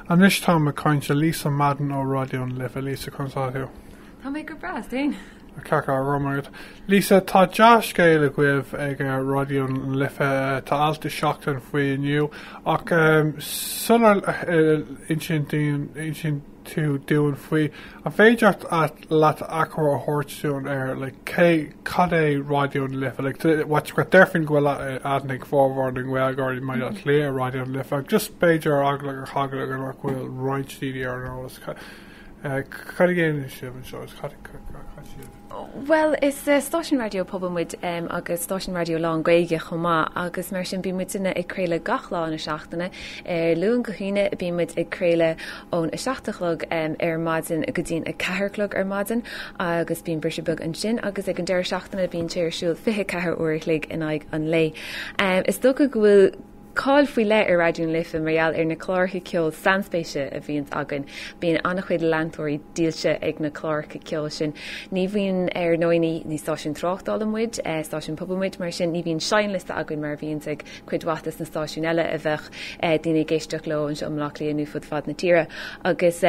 Anois táim ag caint le Lisa Madden ó Raidió na Life. Lisa, conas atá tú? Tá mé go breá, is tú féin?. Tá ceart, go raibh maith agat. Lisa, tá dea-scéal agaibh ag Raidió na Life. Tá alt i Seachtain faoi inniu ach sular insíonn daoine, insíonn. tú dúinn faoi an féidir leat achoimre a thabhairt dúinn ar cad é Raidió na Life like what you've got déarfainn go bhfuil aithne ag formhór na nGaeilgeoirí i mBaile Átha Cliath ar Raidió na Life ach just b'fhéidir ar eagla na heagla nach bhfuil roinnt daoine ar an eolas cad a dhéanann sibh anseo is cad a chaith sibh. Bhuel, is stáisiún raidió pobail muid agus stáisiún raidió lán-Ghaeilge chomh maith agus mar sin bíonn muidne ag craoladh gach lá na seachtaine. Ar Luan go hAoine bíonn muid ag craoladh ón 7 a chlog ar maidin go dtí an 4 a chlog ar maidin agus bíonn briseadh beag ansin, agus ag an deireadh seachtaine bíonn sé ar siúl 24 uair a chloig in aghaidh an lae. Is dócha go bhfuil cáil faoi leith ar Raidió na Life mar gheall ar na cláracha ceoil sainspéise a bhíonns againn. Bíonn an-chuid leantóirí dílse ag na cláracha ceoil sin. Ní bhíonn, ar ndóigh, ní stáisiún tráchtála muid, stáisiún pobail muid, mar sin ní bhíonn seinnliosta againn mar a bhíonns ag cuid mhaith de na stáisiúin eile a bheadh daoine ag éisteacht leo anseo i mBleá Cliath nó fud fad na tíre agus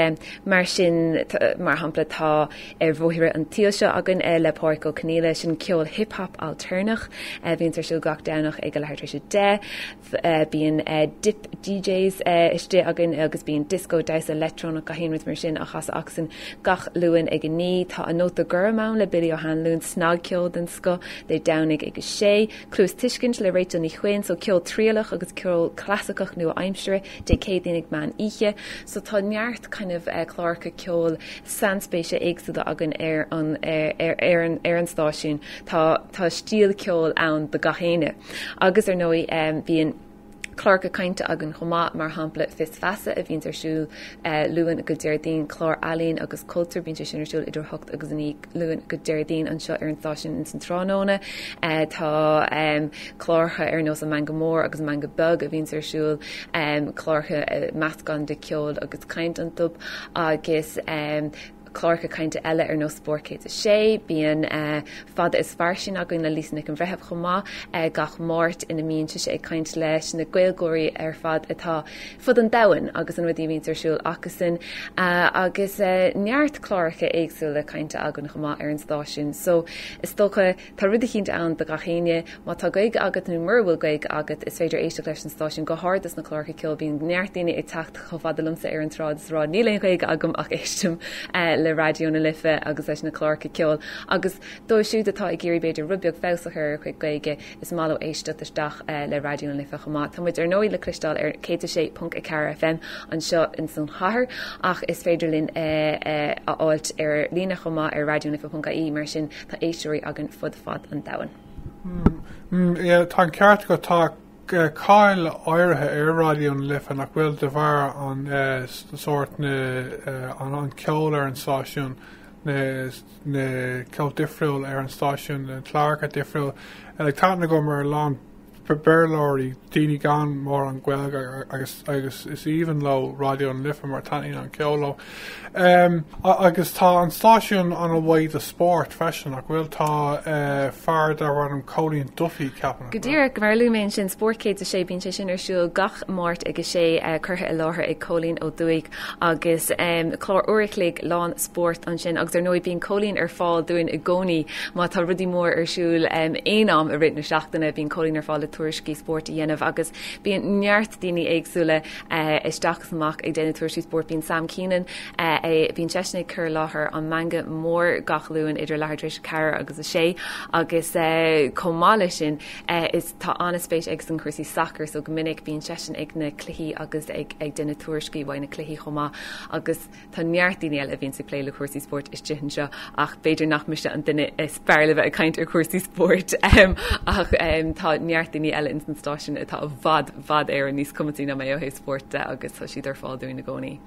mar sin, mar shampla, tá. ar bhóithre an tsaoil seo againn le Pádhraic Ó Conaola. Sin ceol hip hop ailtéarnach a bhíonns ar siúl gach Domhnach ag a leath tar éis a deich. Bíonn dip DJs istigh againn agus bíonn disco, damhsa leictreonach gach aon rud mar sin á chasadh acusan gach Luan ag a naoi. Tá An Nóta Gorm ann le Billy Ó hAnluain, snagcheol den scoth, Dé Domhnaigh ag a sé. Cluastuiscint le Rachel Ní Chuinn, so ceol trialach agus ceol clasaiceach nua-aimseartha. Dé Céadaoin ag meán oíche. So tá neart kind of cláracha ceoil sainspéise éagsúla againn ar an ar an ar an stáisiún. Tá tá stíl ceoil ann do gach éinne. Agus ar ndóigh bíonn cláracha cainte againn chomh maith mar shampla Fios Feasa a bhíonns ar siúl Luan go Déardaoin, clár ealaíon agus cultúir bíonn sé sin ar siúl idir a hocht agus a naoi. Luan go Déardaoin anseo ar an stáisiún ins an tráthnóna tá cláracha ar nós An Meangadh Mór agus An Meangadh Beag a bhíonns ar siúl, cláracha meascán de ceol agus caint iontu agus cláracha cainte eile ar nós Spórt 106. Bíonn Fada is Fairsing againn le Lisa Nic an Bhreithimh chomh maith gach Máirt ina mbíonn sise ag caint leis na Gaeilgeoirí ar fad atá fud an domhain agus na rudaí a bhíonns ar siúl acusan agus neart cláracha éagsúla cainte againn chomh maith ar an stáisiún so is dócha tá rud eicínt ann do gach éinne. Má tá Gaeilge agat nó mura bhfuil Gaeilge agat is féidir éisteacht leis an stáisiún go háirid leis na cláracha ceoil bíonn neart daoine ag teacht chomh fada liomsa ar an tsráid is ag rá níl aon Ghaeilge agam ach éistim le Raidió na Life agus leis na cláracha ceoil agus dóibh siúd atá ag iarraidh b'fhéidir rud beag feabhas a chur ar a gcuid Gaeilge Is maith leo éisteacht isteach le Raidió na Life chomh maith. Tá muid ar ndóigh le cloisteáil ar 106.4 FM anseo ins an chathair ach is féidir linn a fháilt ar líne chomh maith ar raidionalife.ie mar sin tá éisteoirí againn fud fad an domhain. Mmm, tá an ceart agat, tá cáil áirithe ar Raidió na Life nach bhfuil de bharr an sórt na, an ceol ar an stáisiún, na, na ceol difriúil ar an stáisiún, na cláracha difriúil, agus tá aithne agam ar a lán Béarlóirí, daoine gan mórán Gaeilge agus is aoibhinn leo Raidió na Life mar taitníonn an ceol leo. Agus tá an stáisiún an-mhaith do spórt freisin, nach bhfuil? Tá fear darbh ainm Cóilín Duffy, ceapaim? Go díreach, mar a luaigh mé ansin, Spórt 106, bíonn sé sin ar siúl gach Máirt ag a sé, curtha i láthair ag Cóilín Ó Dufaigh. agus clár uair an chloig lán spóirt ansin agus ar ndóigh bíonn Cóilín ar fáil dúinn i gcónaí má tá rudaí mór ar siúl aon am i rith na seachtaine bíonn Cóilín ar fáil le tuairiscí spóirt a dhéanamh agus bíonn neart daoine éagsúla isteach is amach ag déanamh tuairiscí spóirt bíonn Sam Keenan bíonn seisean ag cur i láthair An Meangadh Mór gach Luan idir leathuair tar éis a ceathair agus a sé agus chomh maith leis sin is Tá an-spéis aige sna cúrsaí sacair so go minic bíonn seisean ag na cluichí agus ag déanamh tuairiscí uaidh na cluichí chomh maith agus tá neart daoine eile a bhíonn ag plé le cúrsaí spóirt istigh anseo ach b'fhéidir nach mise an duine is fearr le bheith ag caint ar chúrsaí spóirt ach tá neart daoine eile ins an stáisiún atá i bhfad bhfad Éireann níos cumasaí ná mé ó thaobh spóirt de agus tá siad ar fáil dúinn i gcónaí.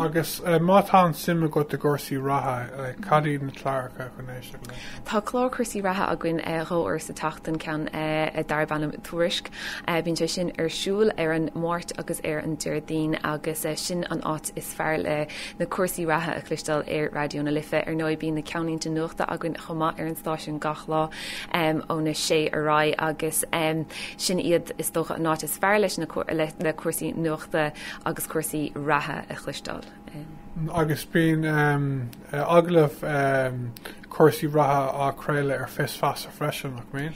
Agus má tá suim agat i gcúrsaí reatha, cad iad na cláracha chun éisteacht leis sin? Tá clár cúrsaí reatha againn dhá uair sa tseachtain, ceann darb ainm Tuairisc. Bíonn sé sin ar siúl ar an Máirt agus ar an Déardaoin agus sin an áit is fearr le na cúrsaí reatha a chloisteáil ar Raidió na Life. Ar ndóigh, bíonn na ceannlínte nuachta againn chomh maith ar an stáisiún gach lá óna sé ar aghaidh agus sin iad is dócha an áit is fearr leis, le cúrsaí nuachta agus cúrsaí reatha a chloisteáil. agus bíonn agallaimh cúrsaí reatha á gcraoladh ar Fios Feasa freisin, nach mbíonn?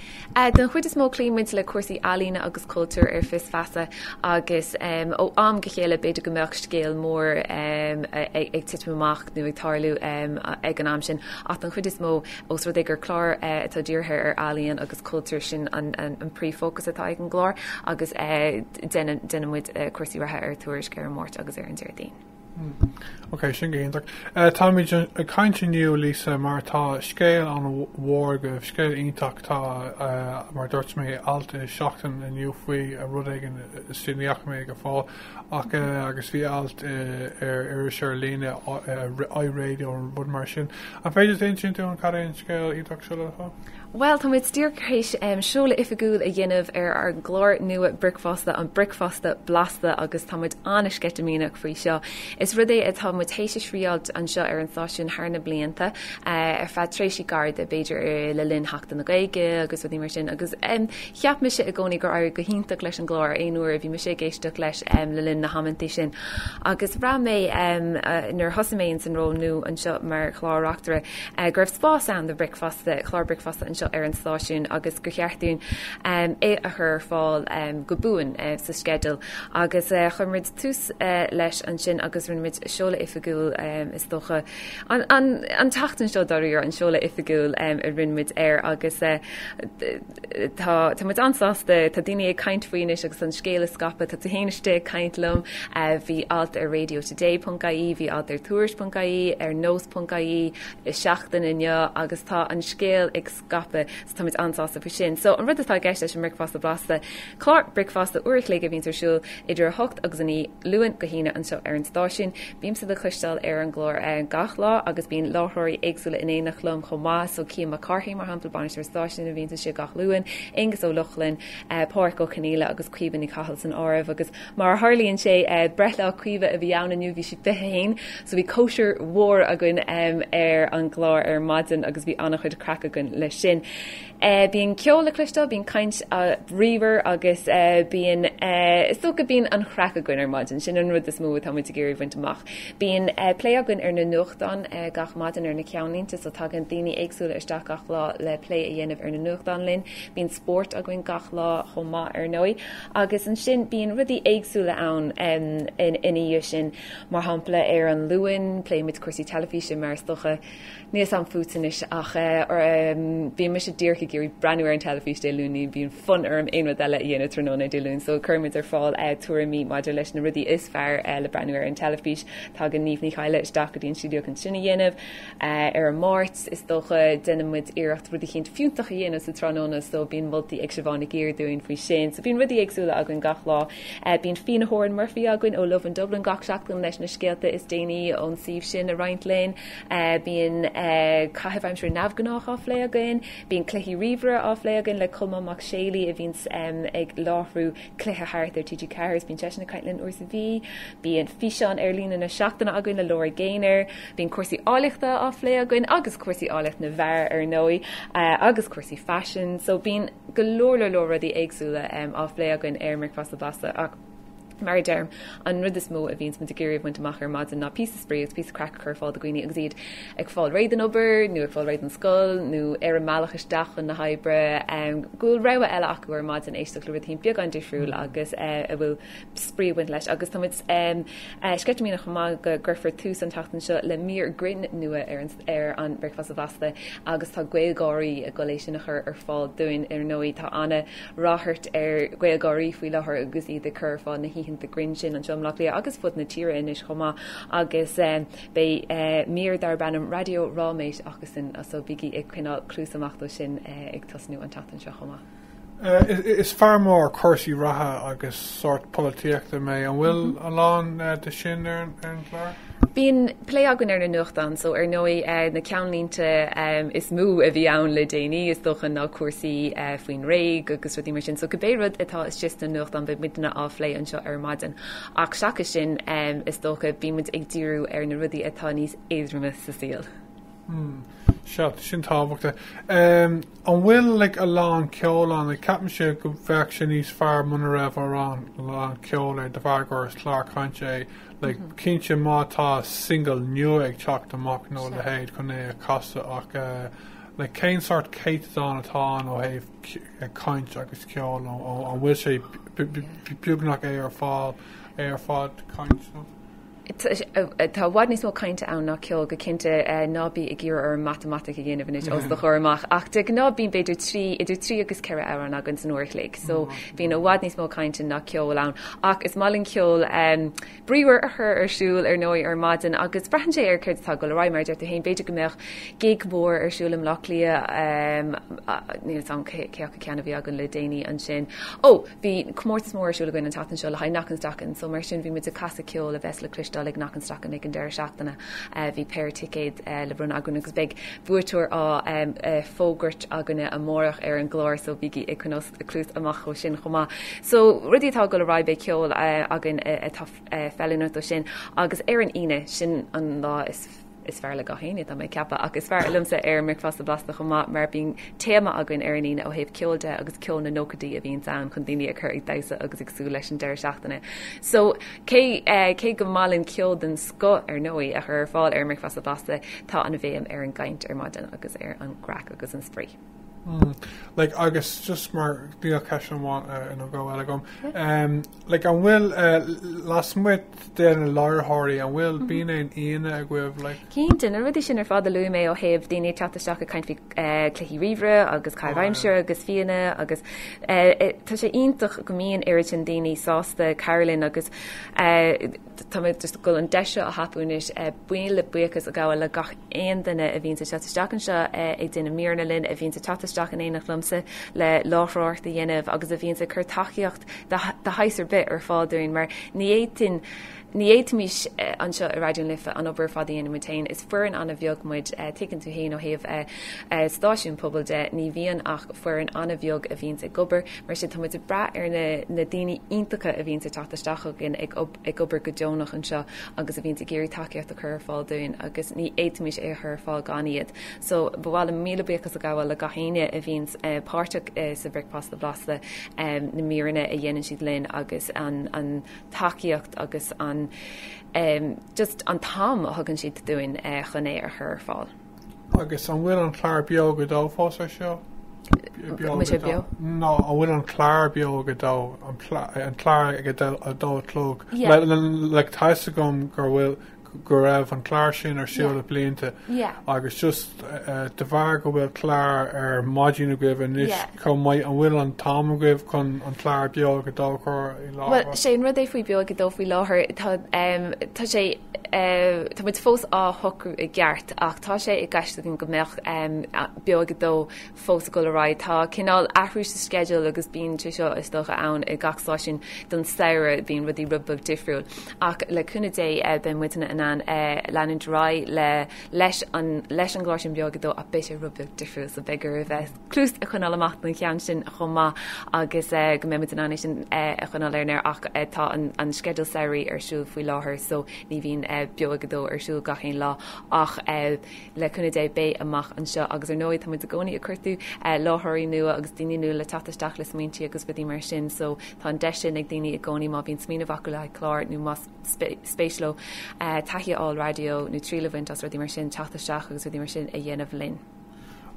Den chuid is mó cloíonn muid le cúrsaí ealaíne agus cultúir ar Fios Feasa agus ó am go chéile b'fhéidir go mbeadh scéal mór ag titim amach nó ag tarlú ag an am sin ach den chuid is mó Ós rud é gur clár atá dírithe ar ealaíon agus cultúr, sin an príomhfhócas atá ag an gclár agus déanaimid cúrsaí reatha ar Tuairisc ar an Máirt agus ar an Déardaoin. Ok, sin go hiontach. Táimid ag caint inniu, Lisa, mar tá scéal an-mhór agaibh, scéal iontach. Tá, mar a dúirt mé, alt i Seachtain inniu faoi, a, rud éigin, is déanaí acu mé ag fáil. ach agus bhí alt ar iris ar líne, iRadio nó rud mar sin. An féidir duit insint dúinn cad é an scéal iontach seo le fáil? Bhuel, tá muid díreach tar éis seoladh oifigiúil a dhéanamh ar ár gclár nua bricfeasta, An Bricfeasta Blasta, agus tá muid an-sceitimíneach faoi seo. Is rud é atá muid théis a thriáilt anseo ar an stáisiún thar na blianta, ar feadh tréimhsí gairide, b'fhéidir le linn Sheachtain na Gaeilge agus rudaí mar sin, agus. Cheap mise i gcónaí gur éirigh go hiontach leis an gclár aon uair a bhí mise ag éisteacht leis le linn na hamanntaí sin agus bhraith mé nuair a thosaigh mé insan ról nua anseo mar chlár reachtaire go raibh spás ann do bricfeasta, clár bricfeasta anseo ar an stáisiún agus gur cheart dúinn é a chur ar fáil go buan sa sceideal agus chuir muid tús leis ansin agus rinne muid seoladh oifigiúil is dócha an tseachtain seo dáiríre an seoladh oifigiúil a rinne muid air agus tá muid an-sásta, tá daoine ag caint faoi anois agus an scéal ag scaipeadh, tá tú féin istigh ag caint liom, bhí alt ar Radio Today ponc ie, bhí alt ar Tuairisc ponc ie, ar Nós ponc ie i Seachtain inniu agus tá an scéal ag scaipeadh, so tá muid an-sásta faoi sin. So an rud atá i gceist leis an mbricfeasta blasta, Clár bricfeasta uair an chloig a bhíonns ar siúl idir 8 agus 9, Luan go hAoine, anseo ar an stáisiún. Bímse le cloisteáil ar an gclár gach lá agus bíonn láithreoirí éagsúla in éineacht liom chomh maith, so Cian Mac Cárthaigh, mar shampla, bainisteoir an stáisiúin a bhíonns anseo gach Luan, Aonghus Ó Lochlainn, Pádraig Ó Conghaile agus Caoimhe Ní Chathail san áireamh. Agus mar a tharlaíonn sé, breithlá Caoimhe a bhí ann inniu, bhí sí 21, so bhí cóisir mhór againn ar an gclár ar maidin agus bhí an-chuid craic againn leis sin. Bíonn ceol le cloisteáil, bíonn caint bhríomhar agus bíonn, is dócha, bíonn an chraic againn ar maidin, sin an rud is mó atá muid ag iarraidh a bhaint amach. Bíonn plé againn ar na nuachtáin gach maidin, ar na ceannlínte, so tagann daoine éagsúla isteach gach lá le plé a dhéanamh ar na nuachtáin linn. Bíonn spórt againn gach lá chomh maith, ar ndóigh, agus ansin bíonn rudaí éagsúla ann ina dhiaidh sin, mar shampla ar an Luan pléimid cúrsaí teilifíse mar is dócha. Níl a fhios agam fút anois ach bíonn mise díreach ag iarraidh breathnú ar an teilifís Dé Luain, ní bhíonn fonn orm aon rud eile a dhéanamh tráthnóna Dé Luain so cuirimid ar fáil tuairimí maidir leis na rudaí is fearr le breathnú ar an teilifís. Tagann Niamh Ní Chadhla isteach go dtí an stiúideo chun sin a dhéanamh ar an Máirt. Is dócha déanann muid iarracht rud eicínt fiúntach a dhéanamh sa tráthnóna so bíonn moltaí ag Siobhán Nig Uidhir dúinn faoi sin. So bíonn rudaí éagsúla againn gach lá. Bíonn Fíodhna Horan Murphy againn ó Lovin Dublin gach seachtain leis na scéalta is déanaí ón suíomh sin a roinnt linn. Bíonn caithimh aimsire neamhghnách á phlé againn. Bíonn cluichí ríomhaire á phlé againn le Colmán Mac Séalaigh a bhíonns ag láithriú cluiche thart ar TG4 agus bíonn seisean ag caint linn uair sa mhí. Bíonn físeán ar líne na seachtaine againn le Laura Gaynor. Bíonn cúrsaí áilleachta á phlé againn agus cúrsaí áilleacht na bhfear ar ndóigh agus cúrsaí faisin so bíonn go leor leor leor rudaí éagsúla á phlé againn ar an mBricfeasta Blasta ach Mar a deirim, an rud is mó a bhíonns muid ag iarraidh a bhaint amach ar maidin ná píosa spraoi agus píosa craic a chur ar fáil do dhaoine agus iad ag fáil réidh don obair nó ag fáil réidh don scoil nó ar an mbealach isteach chun na hoibre, go bhfuil rogha eile acu ar maidin éisteacht le rud eicínt beagán difriúil agus a bhfuil spraoi ag baint leis. Agus tá muid sceitimíneach chomh maith go gcuirfear tús an tseachtain seo le mír grinn nua ar an ar an mBricfeasta Blasta agus tá GaelGáirí ag dul é sin a chur ar fáil dúinn. Ar ndóigh, tá an-ráchairt ar GhaelGáirí faoi láthair agus iad ag cur ar fáil na hoícheanta grinn sin anseo i mBleá Cliath agus fud na tíre anois chomh maith agus beidh mír darb ainm Raidió Ráiméis acusan so bígí ag coinneáil cluas amach dó sin ag tosnú an tseachtain seo chomh maith. Is fear mór cúrsaí reatha agus sórt polaitíochta mé. An bhfuil a lán de sin ar an gclár? Bíonn plé againn ar na nuachtáin so ar ndóigh na ceannlínte is mó a bhí ann le déanaí is dócha ná cúrsaí faoin nGréig agus rudaí mar sin so cibé rud atá istigh sna nuachtáin beidh muidne á phlé anseo ar maidin ach seachas sin is dócha bímid ag díriú ar na rudaí atá níos éadroime sa saol. Sea, sin tábhachtach. An bhfuil like a lán ceoil ann? Like ceapaimse go bheadh sé níos fearr muna raibh a lán a lán ceoil air de bharr gur clár cainte é. Like cinnte má tá single nua ag teacht amach nó a leithéid chun é a chasadh ach eh like cén sórt céatadán atá ann ó thaobh eh caint agus ceoil nó an bhfuil sé beagnach é ar fáil é ar fad caint nó? Tá i bhfad níos mó cainte ann ná ceoil, go cinnte. Ná bí ag iarraidh orm matamaitic a dhéanamh anois os do chomhair amach, ach de ghnáth bíonn b'fhéidir trí, idir trí agus ceithre amhrán againn san uair a chloig, so bíonn i bhfad níos mó cainte ná ceoil ann. Ach is maith linn ceol bríomhar a chur ar siúl, ar ndóigh, ar maidin agus braitheann sé ar céard atá ag dul ar aghaidh. Mar a deir tú féin, b'fhéidir go mbeadh gig mór ar siúl i mBleá Cliath, níl 'fhios a'm cé acu ceann a bhí againn le déanaí ansin, ó! Bhí comórtas mór ar siúl againn an tseachtain seo le haghaidh Knockanstockan so mar sin bhí muid ag casadh ceoil a bheas le cloisteáil ag Knockanstockan ag an deireadh seachtaine. Bhí péire ticéad le bronnadh againn agus beidh buaiteoir á fógairt againne amárach ar an gclár so bígí ag coinneáil cluas amach dó sin chomh maith. So rudaí atá ag dul ar aghaidh beidh ceol againn atá feiliúnach dó sin agus ar an Aoine, sin an lá is Is fearr le gach éinne, tá mé ag ceapadh, ach is fearr liomsa ar an mBricfeasta Blasta chomh maith mar bíonn téama againn ar an Aoine ó thaobh ceoil de agus ceol na nóchaidí a bhíonns ann chun daoine a chur ag damhsa agus ag súil leis an deireadh seachtaine. So, cé gur maith linn ceol den scoth, ar ndóigh, a chur ar fáil ar an mBricfeasta Blasta, tá an bhéim ar an gcaint ar maidin agus ar an gcraic agus an spraoi. Like, agus just mar, níl ceist amháin, nó dhó, eile agam. Like, an bhfuil lasmuigh de na láithreoirí, an bhfuil, bíonn aon aíonna agaibh, like? Cinnte, na rudaí sin ar fad a luaigh mé ó thaobh daoine ag teacht isteach ag caint faoi chluichí ríomhaire agus caitheamh aimsire agus fíona agus tá sé iontach go mbíonn oiread sin daoine sásta cabhrú linn agus tá mé just ag dul an deis seo a thapú anois buíon le buíochas a ghabháil le gach aon duine a bhíonns ag teacht isteach anseo ag déanamh míreanna linn a bhíonns ag teacht isteach in éineacht liomsa le láithreoireacht a dhéanamh agus a bhíonns ag cur tacaíocht de shaghas ar bith ar fáil dúinn, mar ní fhéadfadh, ní fhéadfaimis anseo i Raidió na Life an obair ar fad a dhéanamh muid féin. Is foireann an-bheag muid, tuigeann tú fhéin ó thaobh stáisiún pobail de, ní bhíonn ach foireann an-bheag a bhíonns ag obair, mar sin tá muid ag brath ar na daoine iontacha a bhíonns ag teacht isteach chugainn ag ag obair go deonach anseo agus a bhíonns ag iarraidh tacaíocht a chur ar fáil dúinn agus ní fhéadfaimís é a chur ar fáil gan iad. So ba mhaith liom míle buíochas a ghabháil le gach éinne a bhíonns páirteach sa Bhricfeasta Blasta, na míreanna a dhéanann siad linn agus an tacaíocht agus an just an t-am a thugann siad dúinn chun é a chur ar fáil. Agus an bhfuil an clár Beo ag a Dó fós ar siúl? Nó an bhfuil an clár Beo ag a Dó, an clár ag a dó a chlog, like tá a fhios agam gur bhfuil go raibh an clár sin ar siúl le blianta agus just de bharr go bhfuil clár ar maidin agaibh anois chomh maith an bhfuil an t-am agaibh chun an clár Beo ag a Dó a chur i láthair? Bhuel sé an rud é faoi Beo ag a Dó faoi láthair tá sé Tá muid fós á shocrú i gceart ach tá sé i gceist againn go mbeadh Beo ag a Dó fós ag dul ar aghaidh. Tá cineál athrú sa sceideal agus bíonn sé seo, is dócha, ann i ngach stáisiún don samhradh, bíonn rudaí rud beag difriúil. Ach le cúnamh Dé beidh muidne in ann leanúint ar aghaidh leis an gclár sin Beo ag a Dó ach beidh sé rud beag difriúil so b'fhéidir gur fiú. cluas a choinneáil amach don cheann sin chomh maith agus go mbeidh muid in ann é sin a choinneáil ar an aer ach tá an sceideal samhraidh ar siúl faoi láthair so ní bhíonn Beo ag a Dó ar siúl gach aon lá ach le cúnamh Dé beidh amach anseo agus ar ndóigh tá muid i gcónaí ag cuartú láithreoirí nua agus daoine nua le teacht isteach le smaointí agus rudaí mar sin so tá an deis sin ag daoine i gcónaí má bhíonn smaoineamh acu le haghaidh clár nó más spéis leo taithí a fháil raidió nó triail a bhaint as rudaí mar sin teacht isteach agus rudaí mar sin a dhéanamh linn.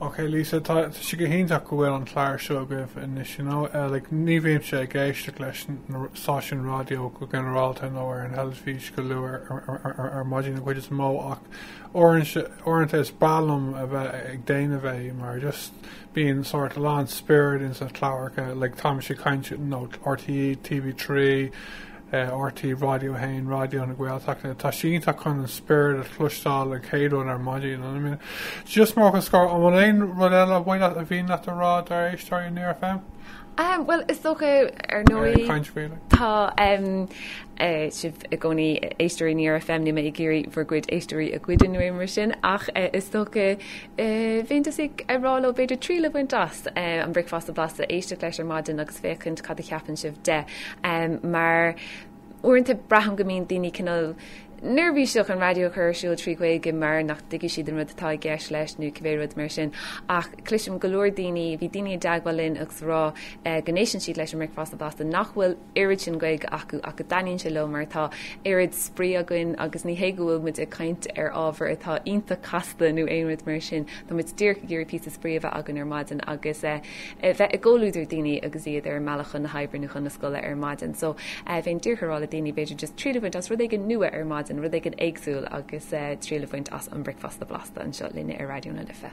Ok Lisa, tá sé go hiontach go bhfuil an clár seo agaibh anois, you know, eh, like, ní bhímse, ag éisteacht leis na stáisiúin raidió go ginearálta nó ar an teilifís go luath ar maidin an chuid is mó ach uaireanta is breá liom a bheith ag déanamh é mar just bíonn sort of a lán spiorad ins na cláracha, like táimse ag caint, you know, RTÉ, TV3, RT Raidió 1, Raidió na Gaeltachta, tá sé iontach chun an spirit a chloisteáil, an chéad rud ar maidin, I mean. Just mar fhocal scoir, an bhfuil aon rud eile ba mhian leat a rá dár éisteoirí in Near FM? Ehm, bhuel, is dócha, ar ndóigh. Ar caint faoi, like. Tá sibh i gcónaí ag éisteacht le Near FM, níl mé ag iarraidh bhur gcuid éisteoirí a ghoid ná rud mar sin, ach is dócha Bheinnse ag rá leo b'fhéidir triail a bhaint as An Bricfeasta Blasta, éisteacht leis ar maidin agus féachaint cad a cheapann sibh de, mar uaireanta braithim go mbíonn daoine cineál neirbhíseach an raidió a chur ar siúl trí Ghaeilge mar nach dtuigfidh siad an rud atá i gceist leis nó cibé rud mar sin. Ach cloisim go leor daoine, bíonn daoine i dteagmháil linn agus ag rá go n-éisteann siad leis an mBricfeasta Blasta nach bhfuil oiread sin Gaeilge acu ach go dtaitníonn sé leo mar tá oiread spraoi againn agus ní hé go bhfuil muid ag caint ar ábhar atá iontach casta nó aon rud mar sin, tá muid díreach ag iarraidh píosa spraoi a bheith againn ar maidin agus eh bheith i gcomhluadar daoine agus iad ar a mbealach chun na hoibre nó chun na scoile ar maidin. So eh bheinn díreach ag rá le daoine b'fhéidir just triail a bhaint as rud éigin nua ar maidin, rud éigin éagsúil agus eh triail a bhaint as An Bricfeasta Blasta anseo linne ar Raidió na Life.